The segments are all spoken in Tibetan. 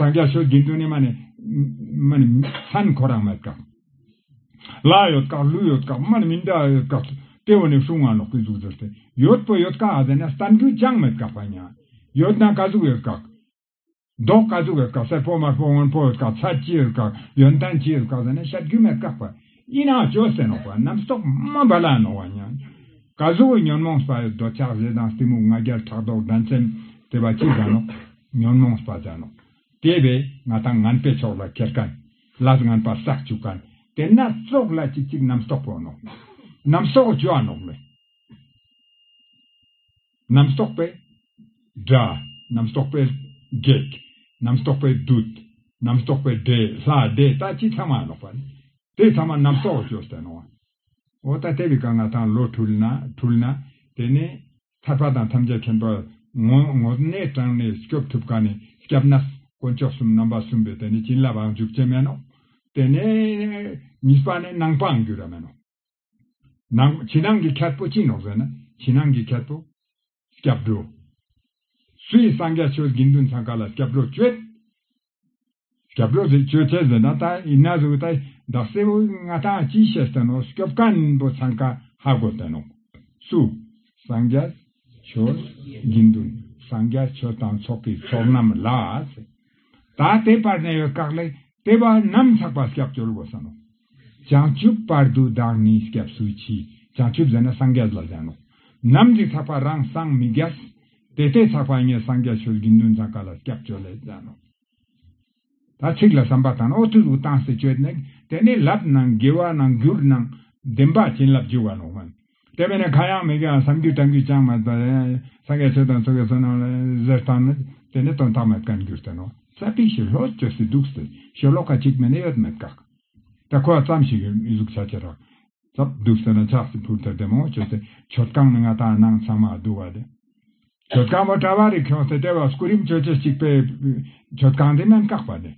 སངས་རྒྱས་ཆོས་བདུན་དུ་ནི་མ་ནི། མ་ནི། ཧན་གོ་རང་མའི་སྐབས། ལ་ཡོད་དཀའ་ལུས་ཡོད་དཀའ་མ་ནི་མི་འདྲ་ཡོད་དཀའ། ལྟེ་བ་ནས་ཤུགས་མངའ་ལོག་པའི་གཟུགས་སྦྱོར་ཏེ། ཡོད་པོ་ཡོད་དཀའ་ཨ་ཟེར་ན་ས་འདྲུད་ཅང་མི་དཀའ་བ་ཉག། ཡོད་ན་དཀའ་གཟུགས་ཡོད་དཀའ། མདོག་དཀའ་གཟུགས་ཡོད་དཀའ་སེར་པོ་དམར་པོ་སྔོན་པོ་ཡོད་དཀའ་ཚ་སྐྱི་ཡོད་དཀའ། ཡོན་ཏན་སྐྱི་ཡོད་དཀའ་ཟེར་ན་ཤ་རྒྱུས་མི་དཀའ་བ། ཨི་ན་ཅོ་སེར་ནོག་པ་རྣམས་སོག་མ་བ་ལ་ནོག་བ་ཉག། དཀའ་གཟུགས་ཉོན་མོངས་སྤ་ཡོད་རྡོ་ཆག་བཞི་དང་གཏི་མུག་ང་རྒྱལ་ཕྲག་དོག་འགྲན་སེམས། དེ་བ་སྐྱི་བཟང་ནོག། ཉོན་མོངས་སྤ་བྱ་ནོ། དེ་བས་ང་དང་ངན་པའི་ཕྱོགས་ལ་ཁྱེར་གན། ལ་ཟ་ངན་པ་ཟག་བཅུག་གན། དེ་ན་སྲོག་ལ་ཅི་ཅིག་རྣམ་རྟོག་པོ་ནོ། རྣམ་སྲོག་བཅུ་བ་ནོག་མེད། རྣམ་རྟོག་པའི་དགྲ། རྣམ་རྟོག་པའི་བགེགས། རྣམ་རྟོག་པའི་བདུད། རྣམ་རྟོག་པའི་དགྲའི་ལྷ་སྡེ་ད་ཅི་ཚང་མ་ནོག་པ་ནི། དེ་ཚང་མ་རྣམ་རྟོག་བཅུ་བརྟེན་ནོ། འོ་ད་དེ་བས་ཀ་ང་དང་ལོ་འཁྲུལ་ན་འཁྲུལ་ན་དེ་ནས། ཐར་པ་དང་ཐམས་ཅད་མཁྱེན་པ། ངོ་བོ་གནས་དྲངས་ནས་སྐྱོབ་ཐུབ་གང་ནས་སྐྱབས་ན། དཀོན་མཆོག་གསུམ་རྣམ་པ་གསུམ་པའི་དེ་ནས་བྱིན་རླབས་ཨང་འཇུག་ཅན་མན་ནོ། དེ་ནས། གཉིས་པ་ནི་སྣང་སྤང་འགྱུར་བ་མན་ནོ། ནང། ཕྱི་ནང་གི་ཁྱད་པོ་ཅི་ནོ་ཟེར་ན། ཕྱི་ནང་གི་ཁྱད་པོ། སྐྱབས་འགྲོ། སུ་ཡིས་སངས་རྒྱས་ཆོས་དགེ་འདུན་ཚང་ག་ལ་སྐྱབས་འགྲོ་བསྐྱོད། སྐྱབས་འགྲོ་དེ་གཅོད་ཐལ་ཟེར་ན་ད་ཡིན་ན་གཟུགས་ད་ཡིན་བདག་སྲས་བོའི་མངའ་ཐང་ཅི་བཤད་ཟེར་ནོ་སྐྱོབ་དཀའ་ནིང་པོ་འཚང་ཁ་ཧ་གོ་དེ་ནོ། སུ། སངས་རྒྱ། ཆོས། དགེ་འདུན། སངས་རྒྱ་ཆོས་དང་ཚོགས་ཀྱི་ཚོགས་རྣམས་ལགས། ད་དེ་བར་ནས་ཡོད་བཀག་ལས་དེ་བ་རྣམས་ཚགས་པར་སྐྱབས་བཅོལ་དགོས་ཟེར་ནོ། བྱང་ཆུབ་དཔལ་དུ་བདག་ནི་སྐྱབས་སུ་མཆི། བྱང་ཆུབ་ཟེར་ན་སངས་རྒྱས་ལ་ཟེར་ནོ། ནམ་འཇིག་ཚགས་པ་རང་སངས་མི་རྒྱས། དེ་ལྟའི་ཚགས་པ་ཉིད་སངས་རྒྱས་ཆོས་དགེ་འདུན་ཚང་ག་ལ་སྐྱབས་སྤྱོད་ལས་ཟེར་ནོ། ད་ཚིག་ལ་བསམ་པ་དང་ཨོ་ཐུག་ཨུ་ཏང་སེ་སྤྱོད། དེ་ནས་ལབ་ནང་དགེ་བ་ནང་བསྒྱུར་ནང་བདེན་པ་བྱིན་རླབས་རྒྱུ་བ་ནོ་སྨོན། དེ་བས་ན་ཁ་ཡག་མི་དགེའང་བསམ་རྒྱུད་བཀྲམ་རྒྱུད་ཅང་མེད་པར། སངས་རྒྱས་ཆོས་དང་ཚོགས་ཀྱི་བསོད་ནམས་ལ་གཟེར་བཏང་ན། དེ་ནི་དོན་དག་མེད་བཀའི་འགྱུར་ལྟར་རོ། ས་པའི་ཞི་ལྷོད་བཅོས་སུ་འདུག་ཟེར་ཞོར་ལོག་ཁ་གཅིག་མིན་ན་ཡོད་མེད་དགག་ད་ཁོ་བ་ཙམ་ཞིག་གཟུགས་ཆ་ཆེ་རག་ཙབ་འདུག་ཟེར་ན་ཆགས་སྲེད་ཕུར་ཐལ་དེ་མང་བོ་བྱོས་ཏེ་བྱོལ་བསྐང་ནི་ང་དང་ནང་ཚང་མ་བསྡུ་བ་དེ། བྱོལ་བསྐང་མོ་གྲ་བ་རིག་ཁྱོང་ཟེར་དེ་བ་སྐུ་རིམ་ཆོས་ཆེ་གཅིག་པའི་བྱོལ་བསྐང་དེ་རྣམས་བཀག་པ་དེ།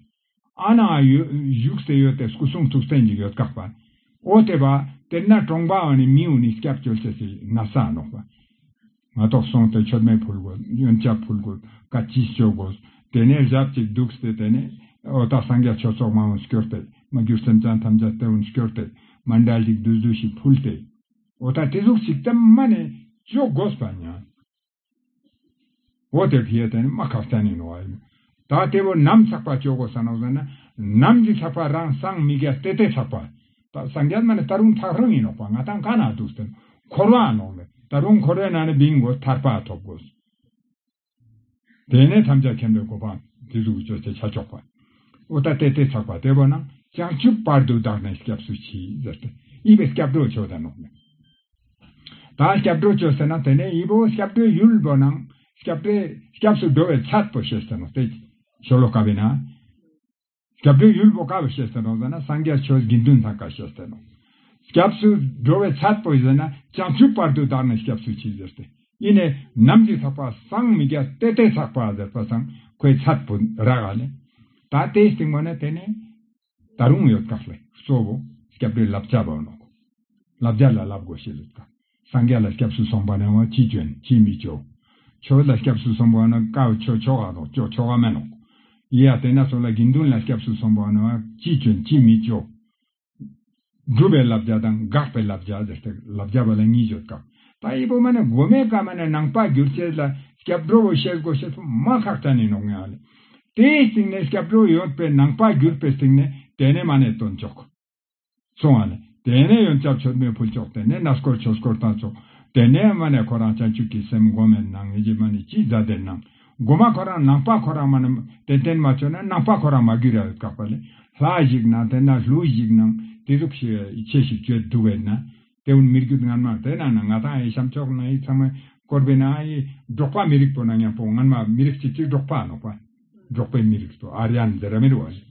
ཨ་ནང་ཨ་ཡོད་བཞུགས་སེ་ཡོད་དེ་སྐུ་གསུང་ཐུགས་སེང་གི་ཡོད་དགག་པ། ཨོ་དེ་པ། དེར་ན་གྲོང་པའང་ནི་མིའི་འོ་ནི་སྐྱབས་བཅོལ་བྱེད་སྲིད་ན་ས་ནོག་པ། ང་དོག་སོང་དེ་ཆོད་མེད་ཕུལ་དགོས་གཡོན་ཆབ་ཕུལ་དགོས་བཀའ་སྤྱི་བསྐྱོད་དགོས་དེ་ནས་ཞབས་ཅིག་འདུག་སྟེ་དེ་ནས་ཨོ་ད་སངས་རྒྱ་ཆོས་ཚོགས་མ་འོན་བསྐྱོར་དེ་མ་གྱུར་སེམས་ཅན་ཐམས་ཅད་དེ་འོན་བསྐྱོར་དེ་མ་འདྲ་ཞིག་བདུད་བཟོད་ཞིག་ཕུལ་དེ། ཨོ་ད་དེ་གཟུགས་ཞིག་དེ་མ་ནས་བཅོ་དགོས་པ་ཉང། འོ་དེ་བྷི་ཡ་ད་ནི་སྨྲ་ཁ་བཙལ་ནས་ནོར་བ་ཡིན། ད་ལྟེ་བོ་ནམ་ཆགས་པ་སྤྱོད་སྒོ་ཟ་ནོ་ཟེར་ན། ནམ་གྱི་ཆགས་པ་རང་སངས་མི་རྒྱ་སྟེ་ཏེ་ཆགས་པ། ད་སངས་རྒྱ་སྨྲ་ནི་ད་རུང་ཐག་རིང་ཡིན་ནོག་པ་ང་ཐང་ག་ན་འདུག་ཟེར་ན། འཁོར་བ་ནོག་ནི་ད་རུང་འཁོར་བའི་ནང་ནས་བིང་དགོས་ཐར་པ་ཐོབ་དགོས། དེ་ནས་ཐམས་ཅད་མཁྱེན་པའི་གོ་འཕང་དེ་གཟུགས་ཀྱི་སྤྱོད་བྱེད་བྱ་ཆོག་པ། འོ་ད་ཏེ་ཏེ་ཆགས་པ་ལྟེ་བོ་ནང་བྱང་ཆུབ་བར་དུ་བདག་ནི་སྐྱབས་སུ་མཆི་ཟེར་ཏེ་གཡས་པའི་སྐྱབས་གྲོགས་མཆོག་ད་ནོག་ནི། དང་སྐྱབས་འགྲོ་བཅོལ་ཟེར་ན་དེ་ནས་ཡིད་བོ་སྐྱབས་འགྲོའི་ཡུལ་བོ་ནང་སྐྱབས་འགྲོས་སྐྱབས་སུ་འགྲོ་བའི་ཚད་དོ་ཞེས་ཟེར་ནོ་སྟེ། ཤོ་ལོ་ཀ་བས་ན། སྐྱབས་འགྲོའི་ཡུལ་བོ་ཀ་བ་ཞེས་ཟེར་ནོ་ཟེར་ན་སངས་རྒྱས་ཆོས་དགེ་འདུན་ཚང་ཀ་ཞེས་ཟེར་ནོ། སྐྱབས་སུ་འགྲོ་བའི་ཚད་དོ་ཟེར་ན་བྱང་ཆུབ་བར་དུ་བདག་ནི་སྐྱབས་སུ་མཆི་ཟེར་ཏེ་ཨི་ནས་ནམ་གྱི་ཚགས་པ་སངས་མི་རྒྱ་སྟེ་སྟེ་ཚགས་པ་ཟེར་པ་སངས་ཁོའི་ཚད་དོ་ར་ག་ནས། ད་དེའི་སྟེང་མོ་ནས་དེ་ནས། ད་རུང་ཡོད་དཀའ་ལས་གཙོ་བོ་སྐྱབས་འགྲོའི་བསླབ་བྱ་བར་ནོ། བསླབ་བྱ་ལ་བསླབ་དགོས་ཞེས་ལུགས་དང། སངས་རྒྱས་ལ་སྐྱབས་སུ་སོང་པ་ནི་བ་ཅིས་བྱོན་ཅིས་མི་བྱོན། ཆོས་ལ་སྐྱབས་སུ་སོང་པ་ནི་བཀའ་ཆོས་ཆོ་ག་དང་ཆོས་ཆོ་ག་མིན་ནོ། ཡིད་ཡ་དེ་ན་སོགས་ལ་དགེ་འདུན་ལ་སྐྱབས་སུ་སོང་པ་ནི་བ་ཅིས་བྱོན་ཅིས་མི་བྱོན། སྒྲུབ་པའི་བསླབ་བྱ་དང་དགག་པའི་བསླབ་བྱ་ཟེར་ཏེ་བསླབ་བྱ་བ་ལ་གཉིས་སྦྱོར་སྐབས་པ་དབྱེ་པོ་མ་ནི་སྒོ་མའི་བཀའ་མ་ནི་ནང་པ་སྒྱུར་བྱེད་ལ་སྐྱབས་འགྲོ་བོ་ཞེས་སྒོ་ཕྱེ་ཐོག་མ་ཁག་ཏྲ་ནས་ནོག་ངེའོ། དེའི་ཚིག་ནི་སྐྱབས་འགྲོ་ཡོད་པའི་ནང་པ་སྒྱུར་པའི་ཚིག་ནི་དེ་ནས་མ་ནས་དོན་ཅོག་གསུང་བ་ནི་དེ་ནས་ཡོན་ཅབ་ཆོས་སྨོན་ཕུལ་ཅོག་དེ་ནས་ན་སྐོར་ཆོས་སྐོར་དང་ཅོག་དེ་ནས་མ་ནས་ཁོ་རང་བྱང་ཆུབ་ཀྱི་སེམས་སྒོམ་མེད་ནང་ངེས་ཀྱི་མ་ནི་སྤྱིའི་བཛྲ་སྡེར་སྣང་སྒོ་མ་ཁོ་རང་ནང་པ་ཁོ་རང་མ་ནི་དེ་བརྟེན་མ་ཆོད་ན་ནང་པ་ཁོ་རང་མ་གུས་ར་བའི་བཀག་པ་ལས་ལྷ་ཞིག་ནང་དེ་ན་ལྷུ་ཞིག་ནང་དེ་ཟུག་ཤེས་བའི་ཡི་ཆད་ཞིག་བཅོད་འདུག་བས་ན། དེ་བོན་མིར་གྱུར་སྔར་མ་དེ་ན་ན་ང་དང་ཨའི་བྱམས་ཕྱོགས་ན་ཡིག་ཚང་མའི་བསྐོར་བས་ན་ཨ་ཡི་འབྲོག་པ་མི་རིགས་པོ་ན་ཉམས་པོ་སྔར་མ་མི་རིགས་གཅིག་གཅིག་འབྲོག་པ་ནོག་པ་འབྲོག་པའི་མི་རིགས་སོ་ཨར་ཡན་འཛེར་ར་མེར་བ་ལས།